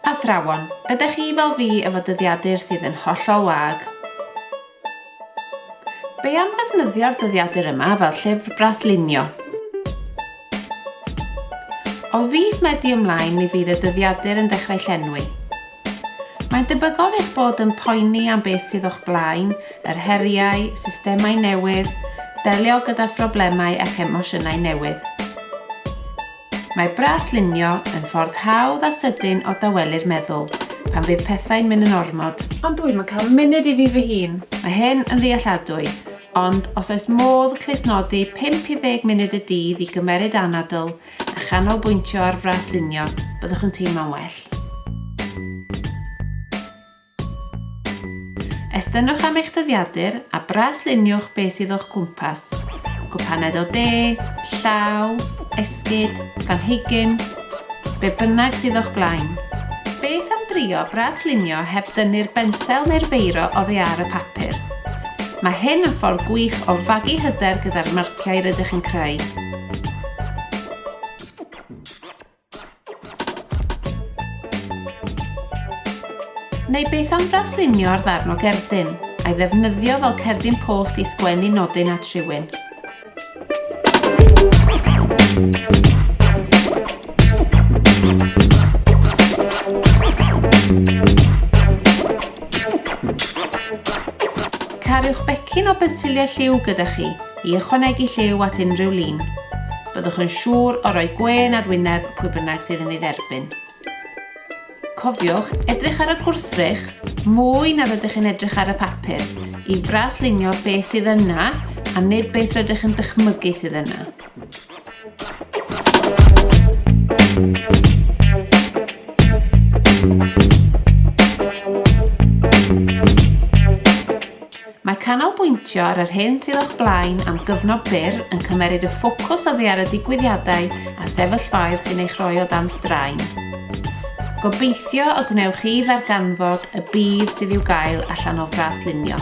Athrawon, ydych chi fel fi efo dyddiadur sydd yn hollol wag? Be am ddefnyddio'r dyddiadur yma fel llyfr braslunio? O fis Medi ymlaen mi fydd y dyddiadur yn dechrau llenwi. Mae'n debygol eich bod yn poeni am beth sydd o'ch blaen, yr heriau, systemau newydd, delio gyda phroblemau a'ch emosiynau newydd. Mae braslunio yn ffordd hawdd a sydyn o dawelu'r meddwl pan fydd pethau'n mynd yn ormod. Ond dwi'm yn cael munud i fi fy hun. Mae hyn yn ddealladwy, ond os oes modd clustnodi 5 i 10 munud y dydd i gymeryd anadl a chanolbwyntio ar fraslunio, byddwch yn teimlo'n well. Estynnwch am eich dyddiadur a brasluniwch beth sydd o'ch cwmpas. Gwpaned o de, llaw, esgyd, planhigyn, be bynnag sydd o'ch blaen. Beth am drio braslunio heb dynnu'r bensel neu'r feiro oddi ar y papur? Mae hyn yn ffordd gwych o fagu hyder gyda'r marciau rydych yn creu. Neu beth am draslunio'r ddarn o gerdyn, a'i ddefnyddio fel cerdyn post i sgwennu nodyn at rhywun? Cariwch becyn o bensiliau lliw gyda chi. I ychwanegu lliw at unrhyw lun, byddwch yn siŵr o roi gwên ar wyneb pwy bynnag sydd yn ei dderbyn. Cofiwch edrych ar y gwrthrych mwy na rydych chi'n edrych ar y papur i fraslunio beth sydd yna a nid beth rydych yn dychmygu sydd yna. Thank you. Mae canolbwyntio ar yr hyn sydd o'ch blaen am gyfnod byr yn cymmeryd y ffocws oddi ar y digwyddiadau a sefyllfaoedd sy'n eich rhoi o dan straen. Gobeithio y gwnewch chi ddarganfod y budd sydd i'w gael allan o fras lunio.